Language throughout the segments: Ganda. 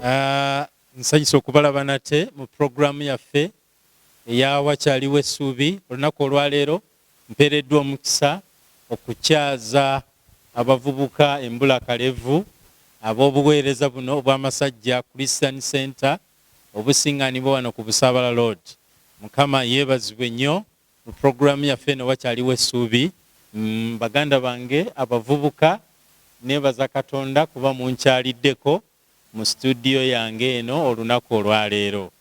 Ah, nsanyusa okubalaba nate mu pulogulaamu yaffe eya wakyaliwo essuubi olunaku olwaleero mpeereddwa omukisa okukyaza abavubuka embula kalevu ab'obuweereza buno obw'amasajja christian center obusinganibwa wano ku Busaabala Road. Mukama yebazibwe nnyo mu program yaffe eno wakyaliwo essuubi baganda bange abavubuka nebaza Katonda kuba munkyaliddeko mu studio yange eno olunaku olwaleero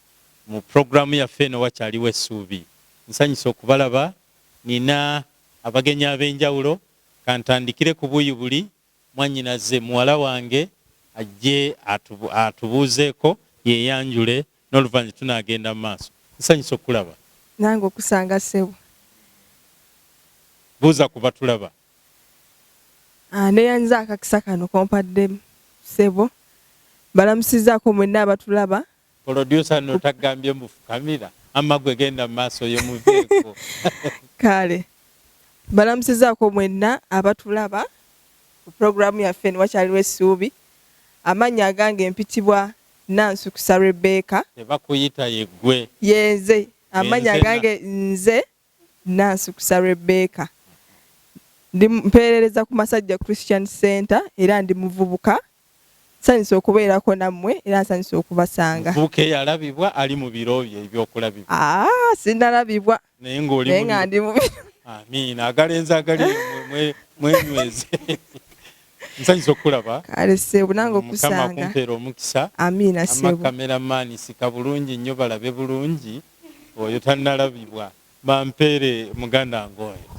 mu program yaffe eno wakyaliwo essuubi. Nsanyuse okubalaba nina abagenyi abenjawulo kantandikire ku buuyi buli Mwannyinaze, muwala wange ajje atubuuzeeko, yeeyanjule n'oluvannyuma tunaagenda mu maaso. Nsanyuse okukulaba. Nange okusanga, ssebo. Buuza ku Batulaba. Nneeyanziza akakisa kano k'ompadde, ssebo. Mbalamusizzaako mwenna Abatulaba. Producer no tagambye mbu fukamira amma gwe genda maaso yo muveeko. Kale balamusizaako mwenna abatulaba ku program yaffe eno wakyaliwo essuubi amannya agange mpitibwa Nansukusa Rebecca. Tebakuyita yeggwe. Yenze amannya agange nze. Nansukusa Rebecca. Ndi mpeerereza ku Masajja Christian Center era ndi muvubuka. Nsanyuse okubeerako nammwe era nsanyuse okubasanga. Muvubuka eyalabibwa ali mu biro bye eby'okulabibwa. Aa ah, sinnalabibwa naye ng'oli naye nga ndi mu biro. Amiina. Agalenzi agali mwenyweze. Nsanyuse okukulaba. Kale ssebo nange okusanga. Mukama akumpeere omukisa. Amiina ssebo. Ama kameramani sika bulungi nnyo balabe bulungi. Oyo tanalabibwa bampeere muganda nga oyo.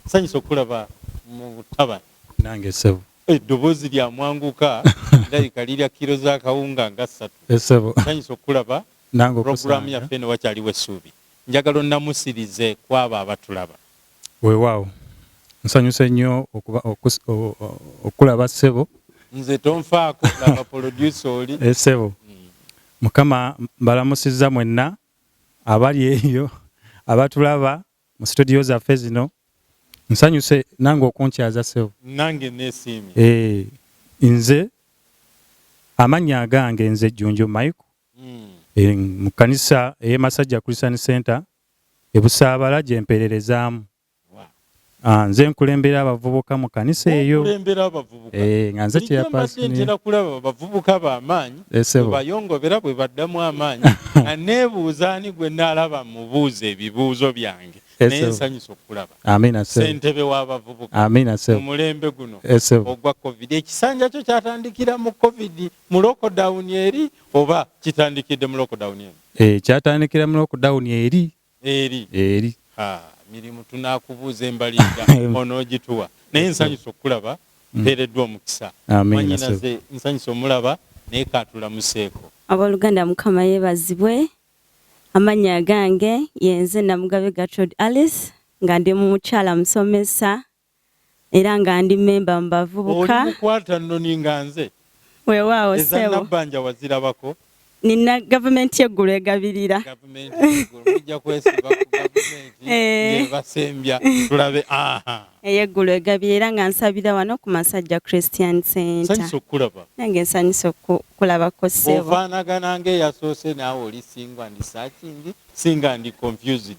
Nsanyuse okukulaba mu ttabani. Nange ssebo. Eddoboozi lya mwanguka lirabika lirya kilo za kawunga nga ssatu. Ssebo. Nsanyuse okukulaba mu pulogulaamu yaffe eno Wakyaliwo Essuubi. Njagala onnamusirize kw'abo abatulaba. Weewaawo nsanyuse nnyo okuba okukulaba ssebo. Nze tonfaako laba polodyusa oli. Eh, ssebo Mukama mbalamusizza mwenna abali eyo abatulaba mu situdiyo zaffe zino. Nsanyuse nange okunkyaza ssebo. Nange neesiimye. Eh, nze amannya agange nze Jjunju Michael. Mm. Eh, mu kkanisa ey'e Masajja Christian Center e Busaabala gye mpeererezaamu. Ah, nze nkulembera abavubuka mu kanisa eyo eh, nga nze kyeyapasntera kulaba abavubuka bamaanyi eh, bayongobera bwe baddamu amaanyi nga neebuuza ani gwe naalaba mubuuza ebibuuzo byange eh, naye nsanyusa okukulaba sentebe w'abavubuka mu mulembe guno ogwa covid ekisanja kyo kyatandikira mu covid mu lockdown eri oba kitandikidde mu lockdown eno eh, kyatandikira mu lockdown eri eri eri mirimu tunakubuuza embaliga onogituwa naye nsanyusa okukulaba mm. mpeereddwa omukisa manyinaze nsanyusa omulaba naye katulamuseeko aboluganda mukama yebazibwe amanya gange yenze namugabe gatrod alice nga ndi mukyala musomesa era nga ndi mmemba mu bavubuka. Oli mukwata nnoni nga nze? Weewaawo ssebo. Eza Nabbanja wazirabako? Nina gavumenti y'eggulu egabirira. Gavumenti y'eggulu mujja kwesiba ku gavumenti eh. ng'ebasembya tulabe. Ey'eggulu egabirira era nga nsabira wano ku Masajja Christian Center. Nsanyusa okukulaba. Nange nsanyusa okukulabako ssebo. Ofaanagana ng'eyasoose naawe oli singa ndi searching, singa ndi confused.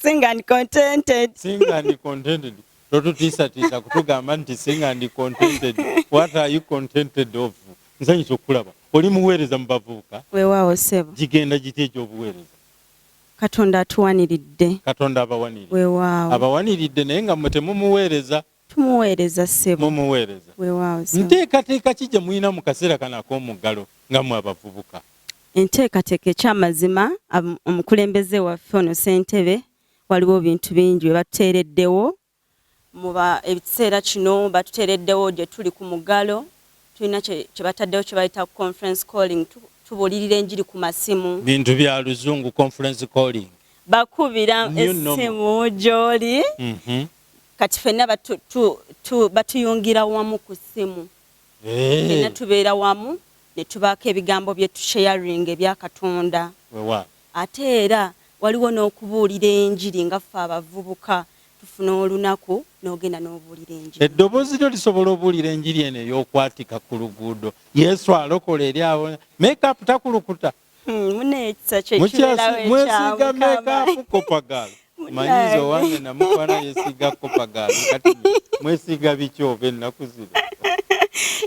sing and contented sing and contented totutiisatiisa kutugamba nti sing and contented what are you contented of nsanyusa okukulaba oli muweereza mu bavubuka weewaawo sebo gigenda giti egyobuweereza katonda atuwaniridde katonda abawaniridde weewaawo abawaniridde naye nga mwe temumuweereza Tumuweereza ssebo. Mumuweereza. Weewaawo ssebo. Nteekateeka ki gye mulina mu kaseera kano ak'omuggalo nga mmwe abavubuka? Enteekateeka eky'amazima omukulembeze waffe ono ssentebe waliwo ebintu bingi bye batuteereddewo mu ekiseera kino batuteereddewo gye tuli ku muggalo tulina kye bataddewo kye bayita conference calling tubuulirira enjiri ku masimu bintu bya luzungu conference calling bakubira essimu gy'oli mhm. kati fenna batu, tu, tu, batuyungira wamu ku ssimu hey. Eh. fenna tubeera wamu ne tubaako ebigambo bye tusharing ebya katonda ate era waliwo n'okubuulira enjiri nga ffe abavubuka tufuna olunaku n'ogenda n'obuulira enjiri eddoboozi lyo lisobola obuulira enjiri eno ey'okwatika ku luguudo yesu alokola eri abo makeup takulukuta Hmm, mune ekisa kyekiberawo ekyamu kama manyiza owange namukwana yesiga kopagaalo kati mwesiga biki oba ennaku zino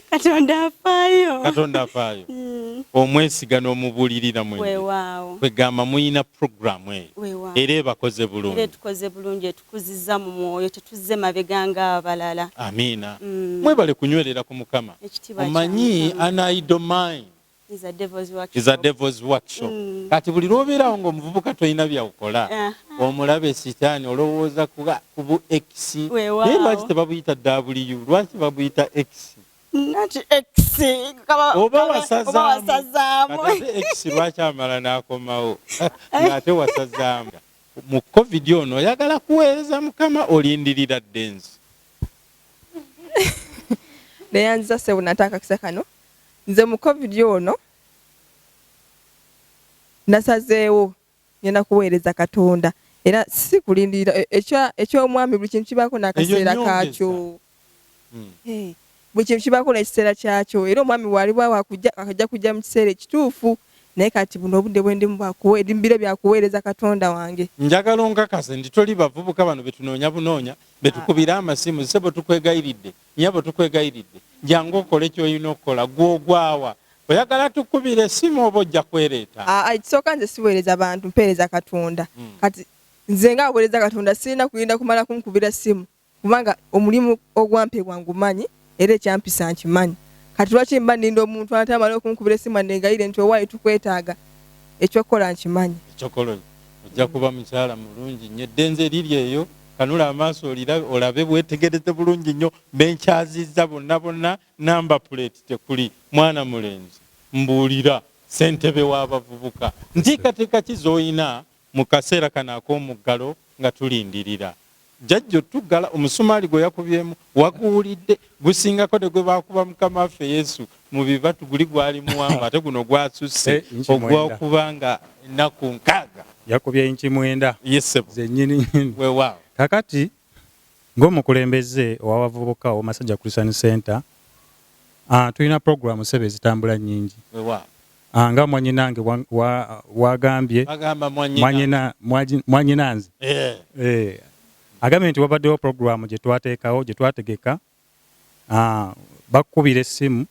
katonda afaayo katonda afaayo hmm. omwesiga n'omubulirira mwewaawo kwegamba muyina puroguramu eyo era ebakoze bulungi etukoze bulungi etukuziza mu mwoyo tetuzze mabega nga abalala amiina hmm. mwebale kunywerera ku mukama omanyi anaidomine is a devil's workshop, is a devil's workshop. Mm. kati buli lwobeerawo nga omuvubuka tolina byakukola uh -huh. omulabe sitaani olowooza kubu x naye wow. lwaki tebabuyita w lwaki babuyita x oba wasazaamu x lwaki amala n'akomawo ng'ate wasazaamu mu covid ono oyagala kuweereza mukama olindirira ddenzi neyanziza sebunataakakisa kano Nze mu covid ono nasazeewo ngenda kuweereza katonda era si kulindirira e, eky'omwami buli kintu kibaako n'akaseera kaakyo hmm. eh, buli kintu kibaako n'ekiseera kyakyo era omwami waliwo awakujja akajja kujja mu kiseera ekituufu naye kati buno obudde bwendimu bwakuwebiro byakuweereza katonda wange njagala onkakase nti toli bavubuka bano betunoonya bunoonya betukubira amasimu sebo tukwegayiridde Nyabo tukwegayiridde jangu okole kyolina okukola gwe ogwawa? Oyagala tukubire esimu oba ojja kwereeta? Aa ekisooka nze siweereza bantu mpeereza Katonda kati nze nga aweereza Katonda sirina kulinda kumala kunkubira ssimu kubanga omulimu ogwampebwa ngumanyi era ekyampisa nkimanyi kati lwaki mba ninda omuntu ate amale okunkubira essimu anneegayirire nti owaaye tukwetaaga eky'okukola nkimanyi. Eky'okukola ojja kuba mukyala mulungi nnyo eddenze liri eyo. kanula amaaso olabe bwetegereze bulungi nnyo benkyaziza bonna bonna namba puleti tekuli mwana mulenzi mbuulira sentebe w'abavubuka nteekateeka ki z'olina mu kaseera kano ak'omuggalo nga tulindirira jajja otuggala omusumaali gwe yakubyemu waguwulidde gusingako ne gwe baakuba mukama waffe yesu mu bibatu guli gwali muwanvu ate guno gwasusse eh, ogwokuba nga ennaku nkaaga yakubye inki mwenda zenyininyini wewaawo kakati ng'omukulembeze owabavubuka owomasajja christian center ah, tulina programu sebe ezitambula nyingi ah, nga mwanyinange wagambye mwanyinanze eh. eh. agambye nti wabaddewo programu gyetwateekawo gyetwategeka Haa bakukubira essimu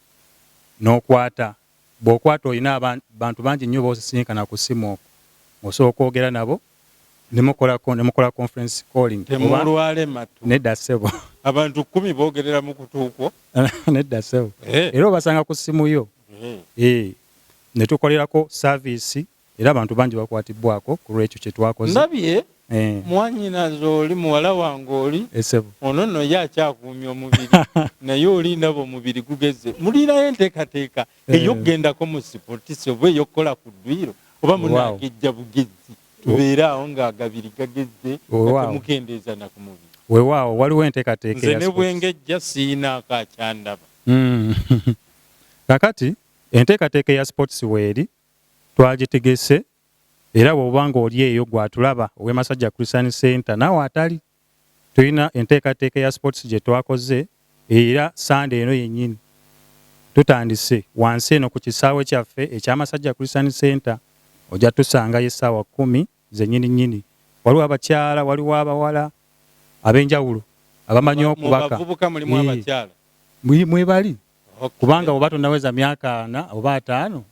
n'okwata. Bw'okwata olina abantu bangi nnyo b'osisinkana ku ssimu okwo. Osobola okwogera nabo ne mukola ne mukola conference calling. Temulwale matu. Nedda ssebo. Abantu kkumi boogerera mu kutu kwo? Nedda ssebo. Era obasanga ku ssimu yo. Eeh. Eeh ne tukolerako service. era abantu bangi bakwatibbwako ku lw'ekyo kye twakoze. Ndabye Eh. mwanyinaze oli muwala wange oli Eh, ssebo. ono nno ye akyakuumye omubiri naye oli ndaba omubiri gugezze. Muliirayo enteekateeka Eh. ey'okugendako mu sipotisi oba ey'okukola ku dduyiro oba Weewaawo. munaagejja bugezzi tubeere awo ng'agabiri gagezze nga Weewaawo. temukendeeza na ku mubiri. Weewaawo, waliwo enteekateeka Nze eya ne bwe sports. ngejja siyinaako akyandaba. Mm. Kaakati enteekateeka eya sports weeri, twagitegese era bw'oba ng'oli eyo gwe atulaba ow'e Masajja Christian Center naawe atali tulina enteekateeka ya sports gye twakoze era sande eno yennyini tutandise wansi eno ku kisaawe kyaffe ekya Masajja Christian Center ojja tusangayo essaawa kkumi Nze nyini nyini waliwo abakyala waliwo abawala abenjawulo abamanyi okubaka mwebali kubanga oba tonaweza myaka ana oba ataano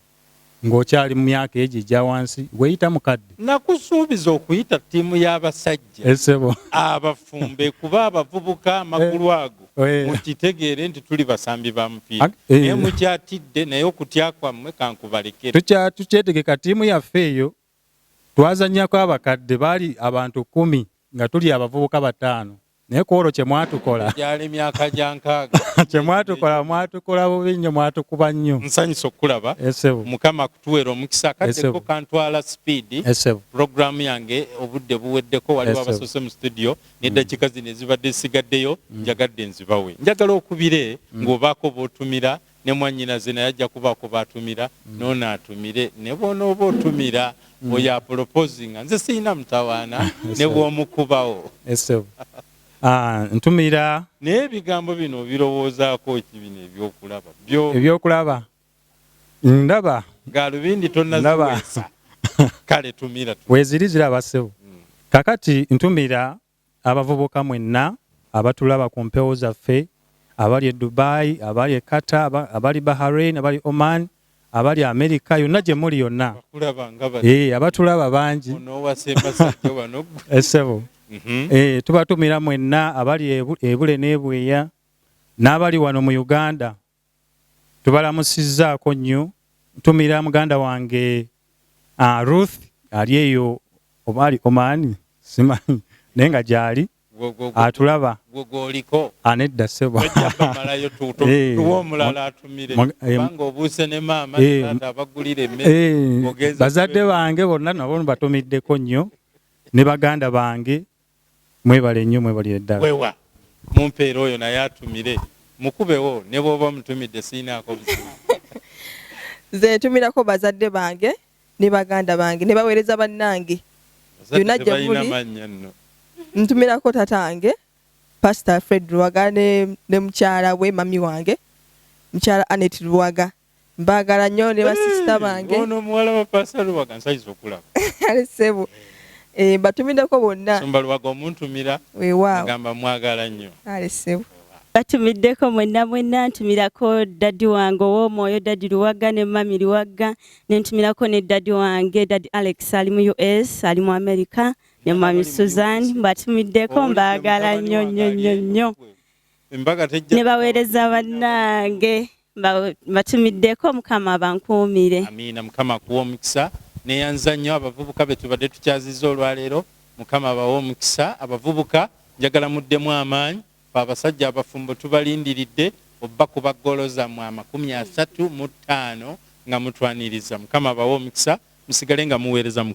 ng'okyali mu myaka egyo egya wansi weyita mukadde nakusuubiza okuyita ttiimu y'abasajja esebo eh, abafumbe kuba abavubuka amagulu eh, ago eh. mukitegeere nti tuli basambi ba mupiira naye mukyatidde naye okutya kwammwe kankubalekere tukyetegeka ttiimu yaffe eyo Twazannyako abakadde baali abantu kkumi nga tuli abavubuka bataano naye ku olwo kye mwatukola gyali myaka gya nkaaga kye mwatukola mwatukola bubi nnyo mwatukuba nnyo nsanyusa okukulaba esebo mukama akutuweera omukisa akaddeko kantwala sipiidi esebo pulogulaamu yange obudde buweddeko waliwo abasoose mu situdiyo n'eddakiika mm. zino ezibadde zisigaddeyo mm. njagadde nzibawe njagala okubire mm. ng'obaako b'otumira ne mwannyinaze naye ajja kubaako b'atumira n'ono atumire ne bw'onooba otumira oyo apolopozinga nze sirina mutawaana ne bw'omukubawo Ah, ntumira naye ebigambo bino obirowoozaako ki bino ebyokulaba ebyokulaba ndaba galubindi tonaziwesa kale tumira weziri ziraba sebo hmm. kakati ntumira Abavubuka mwenna abatulaba ku mpewo zaffe, abali e Dubai, abali e Qatar, abali Bahrain, abali Oman, abali America yonna gye muli yonna, eh, abatulaba bangi eh, sebo mhm. eh, tubatumira mwenna abali ebule n'ebweya n'abali wano mu Uganda tubalamusizzaako nnyo ntumira muganda wange uh, ruth ali eyo oba ali omaani simanyi naye nga gyali atulaba gwoliko anedda sebo ojjabamalayo tuwa omulala atumire kubanga obuuse ne maama nata abagulira emmere bazadde bange bonna nabo batumiddeko nnyo ne baganda bange Mwebale nnyo mwebalire ddala. Wewa mumpeere oyo naye atumire mukubewo ne bwoba omutumidde siyinaako buzibu. Nze ntumirako bazadde bange ne baganda bange ne baweereza bannange yonna gye muli. Ntumirako taata wange Pasita Fred Luwaga ne mukyala we mami wange mukyala Anet Luwaga. Mbagala nyo ne basista bange. Ono muwala wa Pastor Luwaga nsayiza okulaba. Ali sebo. Eh batumideko bonna. Sumba Luwaga omuntumira. Weewaawo. Ngamba mwagala nyo. Ali sebo. Batumiddeko mwenna mwenna ntumirako daddy wange ow'omwoyo daddy Luwagga ne mami Luwagga ne ntumirako ne daddy wange daddy Alex ali mu US ali mu America ne mami Suzanne mbatumiddeko mbaagala nnyo nnyo nnyo nnyo ne baweereza bannange mbatumiddeko mukama abankuumire amiina mukama akuwa omukisa neyanza nnyo abavubuka betubadde tukyaziza olwaleero mukama abawa omukisa abavubuka njagala muddemu amaanyi fe abasajja abafumbo tubalindiridde obba kuba golo zamwe amakumi asatu mu ttaano nga mutwaniriza mukama abawa omukisa musigale nga muweereza mukama